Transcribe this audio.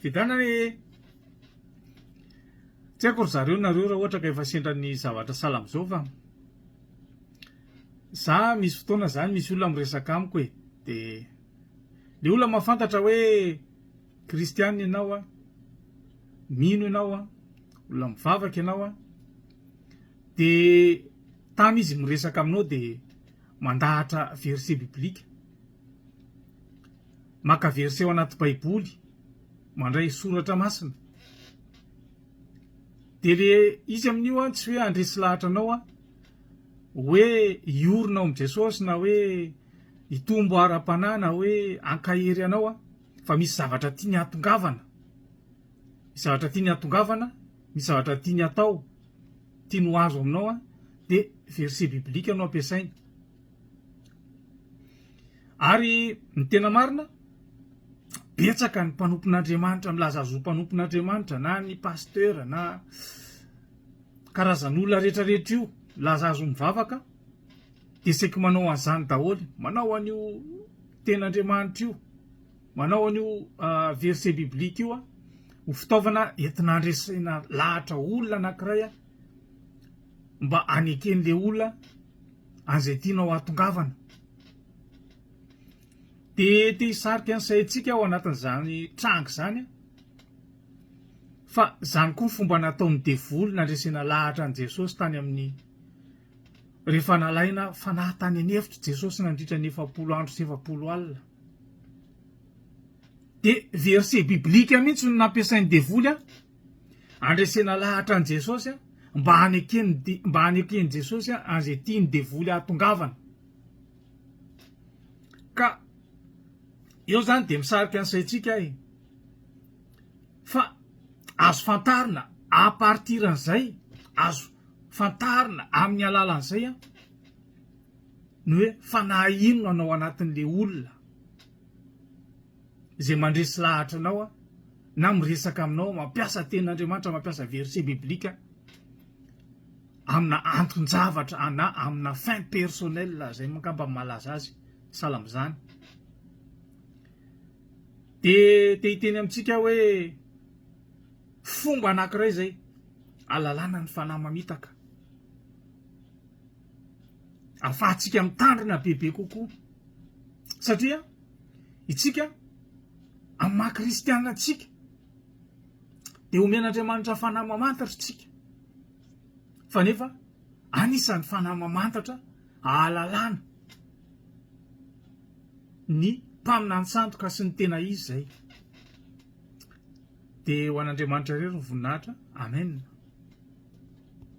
Vidana e! Tsy haiko ry zareo nareo raha ohatra ka efa sendra ny zavatra sahala amin'izao fa za misy fotoana zany misy olona miresaka amiko e de le olona mahafantatra hoe kristianina ianao a, mino ianao a, olona mivavaka ianao a, de tany izy miresaka aminao de mandahatra verset biblique. Maka verset ao anaty baiboly, mandray soratra masina. Dia le izy amin'io an, tsy hoe handresy lahatra anao an, hoe hiorina ao amin'i Jesosy na hoe hitombo ara-panahy na hoe hankahery anao an, fa misy zavatra tiany hatongavana, misy zavatra tiany hatongavana, misy zavatra tiany hatao, tiany ho azo aminao an, dia verset biblique no ampiasainy. Ary ny tena marina, betsaka ny mpanompon'Andriamanitra milaza azy ho mpanompon'Andriamanitra na ny pasteur na karazan'olona rehetra rehetra io milaza azy ho mivavaka dia saiky manao an'izany daholo, manao an'io ten'Andriamanitra io, manao an'io verset biblique io ho fitaovana entina handresena lahatra olona anankiray mba haneken'ilay olona an'izay tianao hahatongavana. Dia te hisarika ny saintsika ao anatin'izany tranga izany, fa izany koa ny fomba nataon'ny devoly nandresena lahatra an'i Jesosy tany amin'ny rehefa nalaina fanahy tany an'efitra Jesosy nandritra ny efapolo andro sy efapolo alina. Dia verset biblika mihitsy no nampiasain'ny devoly Andresena lahatra an'i Jesosy mba haneken'i Jesosy an'izay tian'ny devoly hahatongavana. Ka eo izany dia misarika ny saintsika e. Fa azo fantarina à partir an'izay, azo fantarina amin'ny alalan'izay ny hoe fanahy inona no ao anatin'ilay olona. izay mandresy lahatra anao na miresaka aminao mampiasa tenin'Andriamanitra mampiasa verset biblique amina anton-javatra na amina fin personnel izay angamba ny malaza azy sahala amin'izany dia te hiteny amintsika hoe fomba anankiray izay alalana ny fanahy mamitaka afahantsika mitandrina bebe kokoa satria Itsika, amin'ny maha kristiana antsika, dia omen'Andriamanitra fanahy mamantatra itsika. Fa nefa anisan'ny fanahy mamantatra ahalalana ny mpaminantsantoka sy ny tena izy izay. Dia ho an'Andriamanitra irery ny voninahitra. Amen.